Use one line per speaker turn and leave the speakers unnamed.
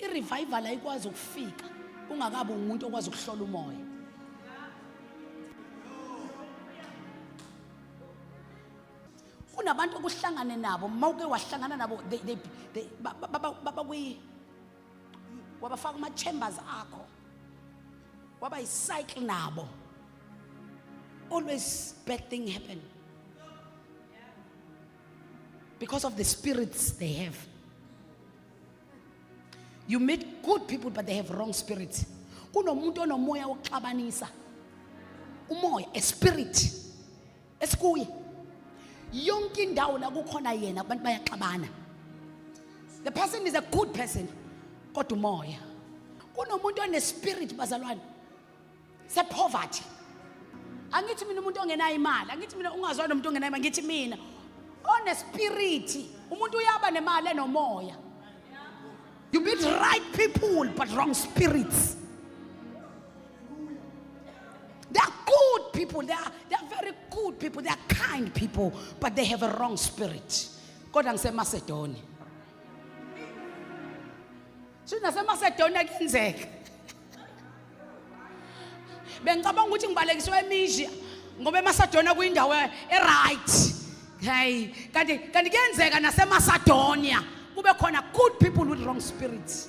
irevival ayikwazi ukufika ungakabi umuntu okwazi ukuhlola umoya kunabantu okuhlangane nabo uma uke wahlangana nabo babakwi wabafaka kuma-chambers akho waba yicycle nabo always bad thing happen because of the spirits they have you meet good people but they have wrong spirits kunomuntu onomoya wokuxabanisa umoya a spirit esikuye yonke indawo la kukhona yena abantu bayaxabana the person is a good person kodwa umoya kunomuntu onespirit bazalwane se poverty angithi mina umuntu ongenayo imali angithi mina ungazwa nomuntu ongenayo imali ngithi mina one spirit umuntu uyaba nemali enomoya you meet right people but wrong spirits they are good people they are, they are very good people they are kind people but they have a wrong spirit kodwa ngisemasedoni Shuthi naseMacedonia kuyenzeka. Bengicabanga ukuthi ngibalekiswe eMisia ngoba eMacedonia kuyindawo eright. Hey, kanti kanti kuyenzeka naseMacedonia kube khona good people with wrong spirits.